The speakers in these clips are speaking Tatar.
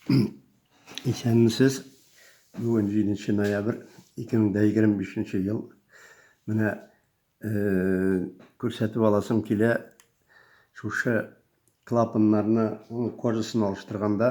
Исәнмесез. Бүген 7 ноябрь 2025 ел. Менә э, күрсәтеп аласым килә. Шушы клапаннарны кожасын алыштырганда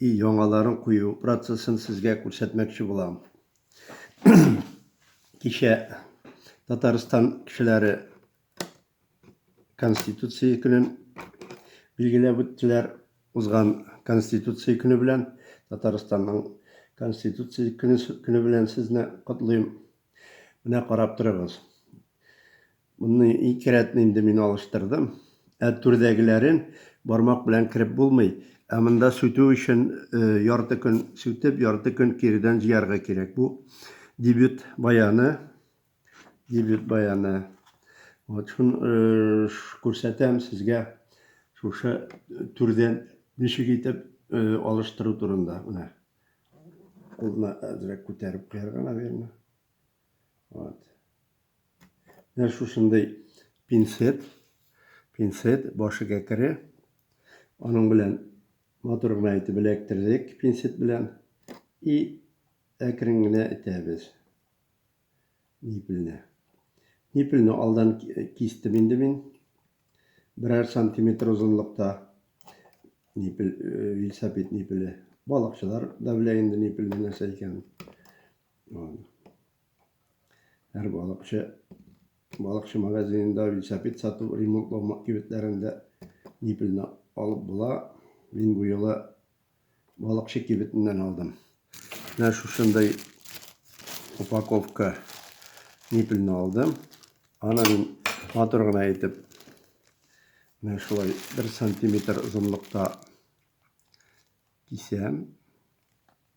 И яңаларын кую процессын сезгә күрсәтмәкче булам. Кичә Татарстан кешеләре Конституция көнен билгеләп үттеләр. Узган Конституция көне белән Татарстанның Конституция көне, көне белән сезне котлыйм. Менә карап торыгыз. Монны ике рәтне инде мин алыштырдым. Ә түрдәгеләрен бармак белән кереп булмый. Ә монда сүтү өчен ярты көн сүтеп, ярты көн киридән җыярга кирәк. Бу дебют баяны. Дебют баяны. Вот шун күрсәтәм сезгә шушы түрдән ничек итеп алыштыру турында. Менә. Кулны әзрәк күтәреп куярга, наверное. Вот. Менә шушындый пинцет, пинцет башы кәкере. Аның белән матур гына итеп эләктердек пинцет белән. И әкрен генә этәбез. Нипельне. Нипельне алдан кистем инде мин. Берәр сантиметр озынлыкта нипель, э, велосипед нипеле. Балыкчылар да белә инде нипельне нәрсә икәнен. Һәр балыкчы балыкчы магазинында велосипед сату, ремонтлау кибетләрендә нипельне алып була. Мин бу юлы балыкчы кибетеннән алдым. Менә шушындай упаковка нипельне алдым. Аны мин матур гына итеп менә шулай бер сантиметр озынлыкта кисәм.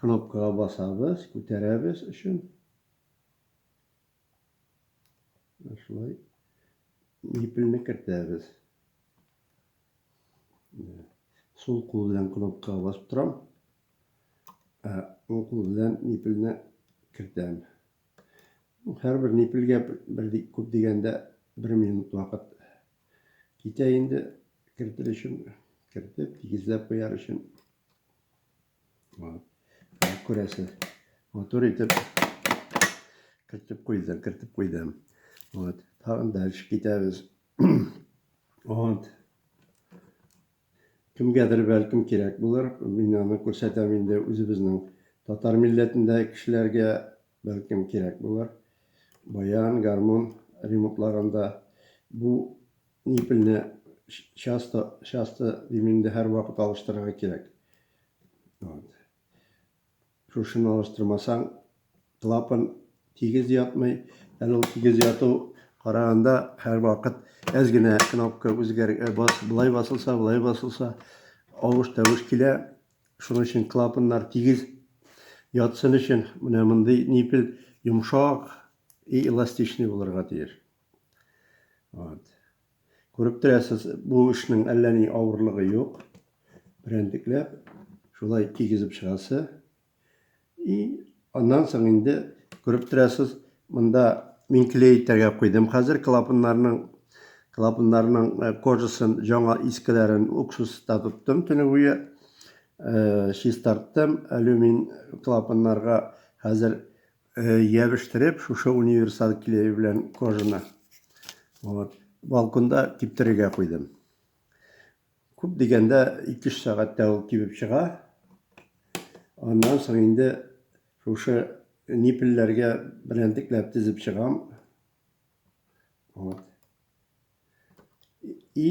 Кнопкага басабыз, күтәрәбез өчен. Шулай нипельне кертәбез. Сул кул белән кнопкага басып торам. Ә уң кул белән нипельне кертәм. Һәрбер нипельгә бер күп дигәндә 1 минут вакыт китә инде кертер өчен, кертеп, тигезләп куяр өчен. Күрәсез, матур итеп кертеп куйдым, кертеп куйдым. Вот, тагын дальше китәбез. вот. Кемгәдер бәлкем кирәк булыр, мин аны күрсәтәм инде үзебезнең татар милләтендә кешеләргә бәлкем кирәк булыр. Баян, гармун ремонтларында бу Нипельне часто, часто димим дә һәрвакыт алыштырырга кирәк. Вот. Шушыны алыштырмасаң, клапан тигез ятмый. Әле ул тигез яту караганда һәрвакыт әз генә кнопка үзгәр, э, бас, былай басылса, былай басылса, авыш тавыш килә. Шуның өчен клапаннар тигез ятсын өчен менә мондый нипель йомшак и эластичный булырга тиеш. Вот. Күреп торасыз, бу эшнең әллә ни авырлыгы юк. Берәндекләп шулай кигезеп чыгасы. И аннан соң инде күреп торасыз, монда мин клей итәргә куйдым. Хәзер клапаннарның клапаннарның э, кожасын, жаңа искеләрен уксуста тоттым төне буе. Э, чистарттым. Әле мин клапаннарга хәзер Э, ябештіріп шушы универсал клей белән кожаны вот балконда киптерергә куйдым күп дигәндә 2-3 сәгатьтә ул кибеп чыга аннан соң инде шушы нипельләргә берәндекләп тезеп чыгам вот и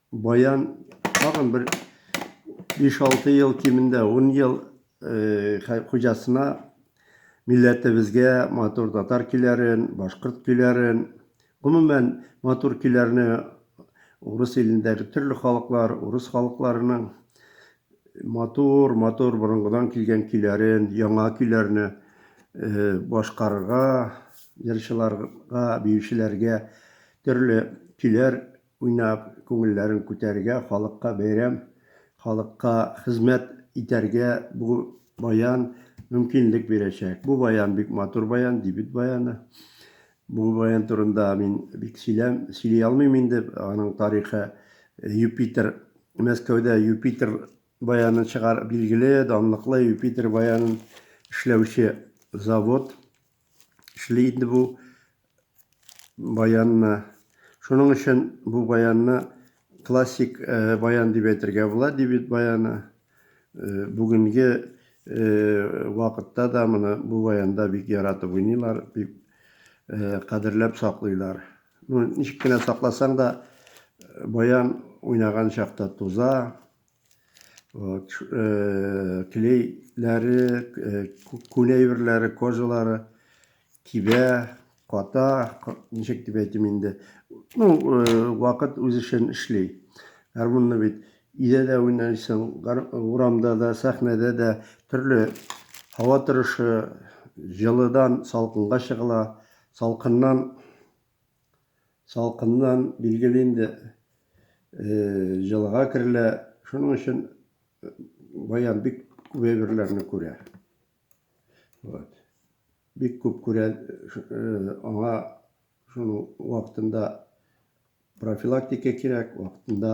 Баян тагын бер 5-6 ел кимендә, 10 ел хуҗасына милләтебезгә матур татар көйләрен, башкорт көйләрен, гомумән матур көйләрне урыс илендәге төрле халыклар, урыс халыкларының матур, матур борынгыдан килгән көйләрен, яңа көйләрне э, башкарырга, җырчыларга, биючеләргә төрле көйләр Уйнап, күңелләрен күтәрергә, халыкка бәйрәм, халыкка хезмәт итәргә бу баян мөмкинлек бирәчәк. Бу баян бик матур баян, дебют баяны. Бу баян турында мин бик сөйләм, сөйли алмыйм инде. Аның тарихы Юпитер, Мәскәүдә Юпитер баянын чыгар, билгеле, данлыклы Юпитер баянын эшләүче завод, эшли инде бу баянны. Шуның өчен бу баянны классик э, баян дип әйтергә була, дебют баяны. Э, бүгенге э, вакытта да моны бу баянда бик яратып уйныйлар, бик кадерләп саклыйлар. Ну, ничек кенә сакласаң да, баян уйнаган чакта туза, Вот, э, клейләре, э, күнәйберләре, кожалары тибә, ката, ничек дип әйтим инде. Ну, э, вакыт үз эшен эшли. Гармунны бит өйдә дә уйнайсың, урамда да, сәхнәдә дә төрле һава торышы җылыдан салкынга чыгыла, салкыннан Салкыннан, билгеле инде, җылыга керелә. Шуның өчен Баян бик күп әйберләрне күрә. Вот. Бик күп күрә, аңа шуның вакытында профилактика кирәк, вакытында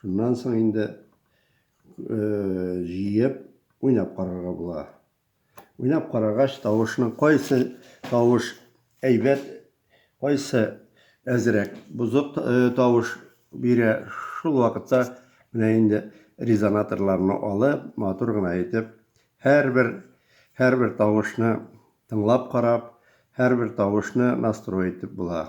Шуннан соң инде җыеп уйнап карарга була. Уйнап карагач, тавышның кайсы тавыш әйбәт, кайсы әзрәк бозык тавыш бирә, шул вакытта менә инде резонаторларны алып, матур гына итеп, һәрбер һәрбер тавышны тыңлап карап, һәрбер тавышны настрой итеп була.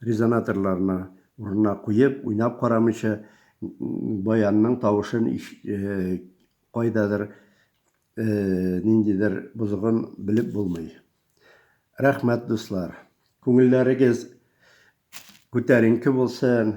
резонаторларына урынына куеп, уйнап карамыйча, баянның тавышын кайдадыр ниндидер бозыгын белеп булмый. Рәхмәт, дуслар. Күңелләрегез күтәренке булсын.